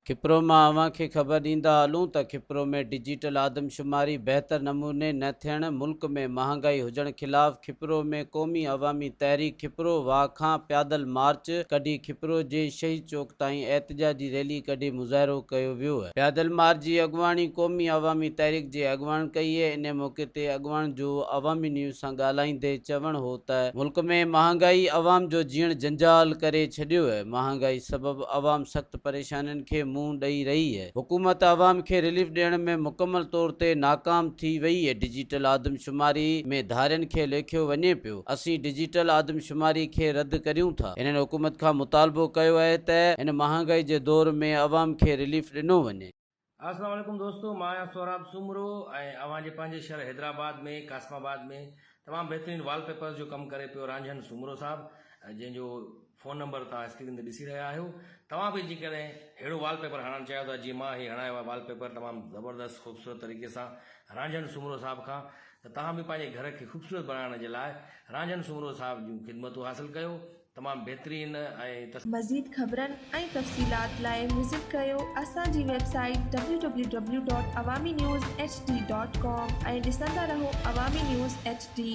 کپرو مان اوهان کي خبر ڏيندا هلون ته کپرو ۾ ڊجيٽل آدمشماري بهتر نموني نه ٿيڻ، ملڪ ۾ مهانگائي هجڻ خلاف کپرو ۾ قومي عوامي تحريڪ کپرو واهه کان پيادل مارچ ڪڍي کپرو جي شهيد چوڪ تائين احتجاجي ريلي ڪڍي مظاهرو ڪيو ويو. بيادل مار جي اڳواڻي قومي عوامي تحريڪ جي اڳواڻ ڪئي هئي، انهي موقعي تي اڳواڻ جو عوامي نيوز سان ڳالهائيندي چوڻ هو ته ملڪ ۾ مهانگائي عوام جو جيئڻ جنجال ڪري ڇڏيو هي، مهانگائي سبب عوام سخت پريشانين کي منهن ڏئي رهي هي، حڪومت عوام کي رليف ڏيڻ ۾ مڪمل طور تي ناڪام ٿي وئي هي، ڊجيٽل آدمشماري ۾ ڌارين کي ليکيو وڃي پيو. اسين ڊجيٽل آدمشماري کي رد ڪريون ٿا. هنن حڪومت کان مطالبو ڪيو آهي ته هن مهانگائي جي دور ۾ عوام کي رليف ڏنو وڃي. السلام عليڪم دوستو مان آهيان سهراب سومرو ۽ اوهان جي پنهنجي شهر حيدرآباد ۾ قاسم آباد ۾ تمام بهترين وال پيپرز جو ڪم ڪري پيو رانجهن سومرو صاحب جنهن جو فون نمبر توهان اسڪرين تي ڏسي رهيا آهيو توهان به جيڪڏهن اهڙو وال پيپر هڻڻ چاهيو ٿا جيئن مان هي هڻايو آهي وال پيپر تمام زبردست خوبصورت طريقي سان رانجهڻ سومرو صاحب کان ته توهان به پنهنجي گهر کي خوبصورت بنائڻ جي لاء رانجهڻ سومرو صاحب جون خدمتون حاصل ڪيو تمام بهترين ۽ مزيد خبرن ۽ تفصيلات لاء وزٽ ڪيو اسان جي website W W W dot Awami news H D dot com ۽ ڏسندا رهو عوامي نيوز ايڇ ڊي.